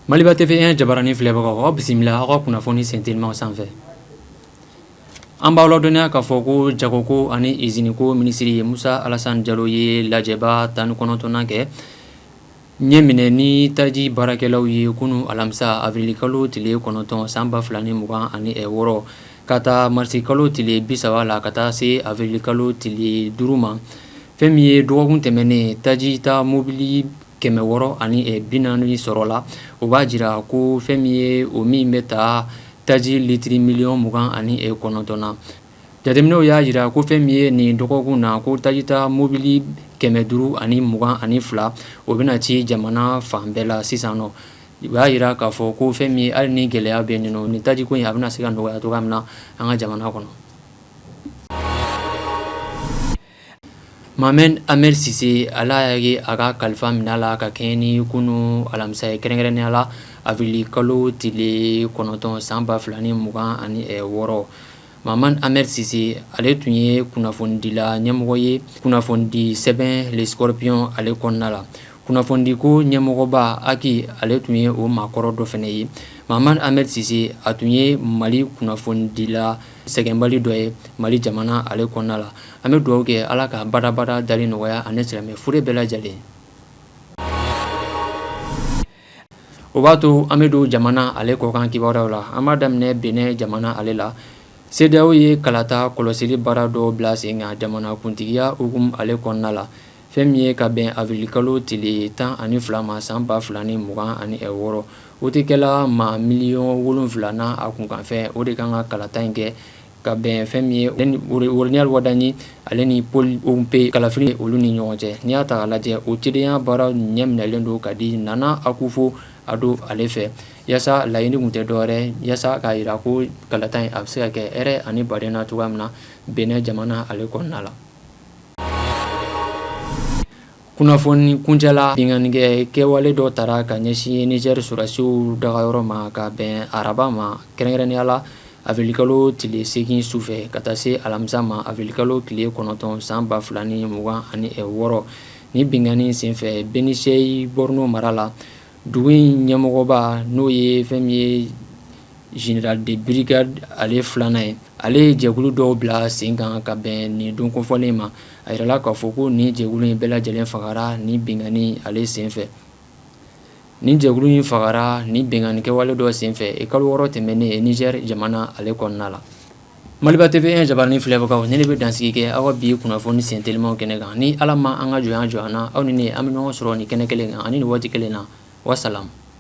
Maliba TV1 jabaranin filɛbagaw aw bisimila aw ka kunnafoni sentelimanw sanfɛ an b'aw ladɔnniya k'a fɔ ko jagoko ani iziniko minisiri ye Musa Alasani Jalo ye lajɛba tan ni kɔnɔntɔnnan kɛ Ɲɛminɛ ni taji baarakɛlaw ye kunun alamisa avril kalo tile kɔnɔntɔn san ba fila ni mugan ani wɔɔrɔ ka ta marisi kalo tile bi saba la ka taa se avril kalo tile duuru ma fɛn min ye dɔgɔkun tɛmɛnen taji ta mobili kɛmɛ wɔɔrɔ ani bi naani sɔrɔla o b'a jira ko fɛn min ye o min bɛ taa taji litiri miliyɔn mugan ani kɔnɔntɔn na Jateminɛw y'a jira ko fɛn min ye nin dɔgɔkun na ko taji ta mobili kɛmɛ duuru ani mugan ani fila o bɛna ci jamana fan bɛɛ la sisan nɔ o y'a jira k'a fɔ ko fɛn min ye hali ni gɛlɛya bɛ yen nɔ nin taji ko in a bɛna se ka nɔgɔya cogoya min na an ka jamana kɔnɔ Mahamane Hamèye Cissé Ala y'a ka kalifa minɛ a la ka kɛɲɛ ni kunun alamisa ye kɛrɛnkɛrɛnnenya la avril kalo tile kɔnɔntɔn san ba fila ni mugan ani wɔɔrɔ Mahamane Hamèye Cissé ale tun ye kunnafonidila ɲɛmɔgɔ ye kunnafonidi sɛbɛn Le Scorpion ale kɔnɔna la kunnafonidiko ɲɛmɔgɔba HAC ale tun ye o maakɔrɔ dɔ fɛnɛ ye Mahamane Hamèye Cissé a tun ye mali kunnafonidila sɛgɛnbali dɔ ye mali jamana ale kɔnɔna la an bɛ dugawu kɛ ala ka badabada dali nɔgɔya ani silamɛ fure bɛɛ lajɛlen o b'a to an bɛ don jamana ale kɔkan kibaruyaw la an b'a daminɛ Benin jamana ale la CEDEAO ye kalata kɔlɔsili baara dɔ bila sen kan jamanakuntigiya hukumu ale kɔnɔna la fɛn min ye ka bɛn avril kalo tile tan ani fila ma san ba fila ni mugan ani wɔɔrɔ wotekɛla maa miliyɔn wolonwula n'a kunkanfɛn o de kan ka kalata in kɛ ka bɛn fɛn min ye Romuald Wadagni ale ni Paul Hounkpè kalafili olu ni ɲɔgɔn cɛ n'i y'a ta k'a lajɛ o cidenya baara ɲɛminɛlen don ka di Nana Akufo-Addo ale fɛ yaasa laɲini tun tɛ dɔwɛrɛ yaasa k'a jira ko kalata in a bɛ se ka kɛ hɛrɛ ani badenya na cogoya min na Benin jamana ale kɔnɔna la Kunnafoni kuncɛla binkannikɛ kɛwale dɔ taara ka ɲɛsin Niger sɔrɔdasiw dagayɔrɔ ma ka bɛn araba ma kɛrɛnkɛrɛnnenya la avril kalo tile 8 su fɛ ka taa se alamisa ma avril kalo tile 9 san 2026 nin binkanni in sen fɛ Benisheikh Borno mara la dugu in ɲɛmɔgɔba n'o ye fɛn min ye Général de brigade ale filanan ye ale ye jɛkulu dɔw bila sen kan ka bɛn nin don kofɔlen ma a yirala k'a fɔ ko nin jɛkulu in bɛɛ lajɛlen fagara nin binkanni ale senfɛ nin jɛkulu in fagara nin binkanni kɛwale dɔ senfɛ e kalo wɔɔrɔ tɛmɛnen Niger jamana ale kɔnɔna la maliba TV1 jabarani filɛbagaw ne bɛ dan sigi kɛ aw bi kunnafoni sentelimaw kɛnɛ kan ni ala ma an ka jɔnya jɔ an na aw ni an bɛ ɲɔgɔn sɔrɔ nin kɛnɛ kelen kan ani nin waati kelen na wassalam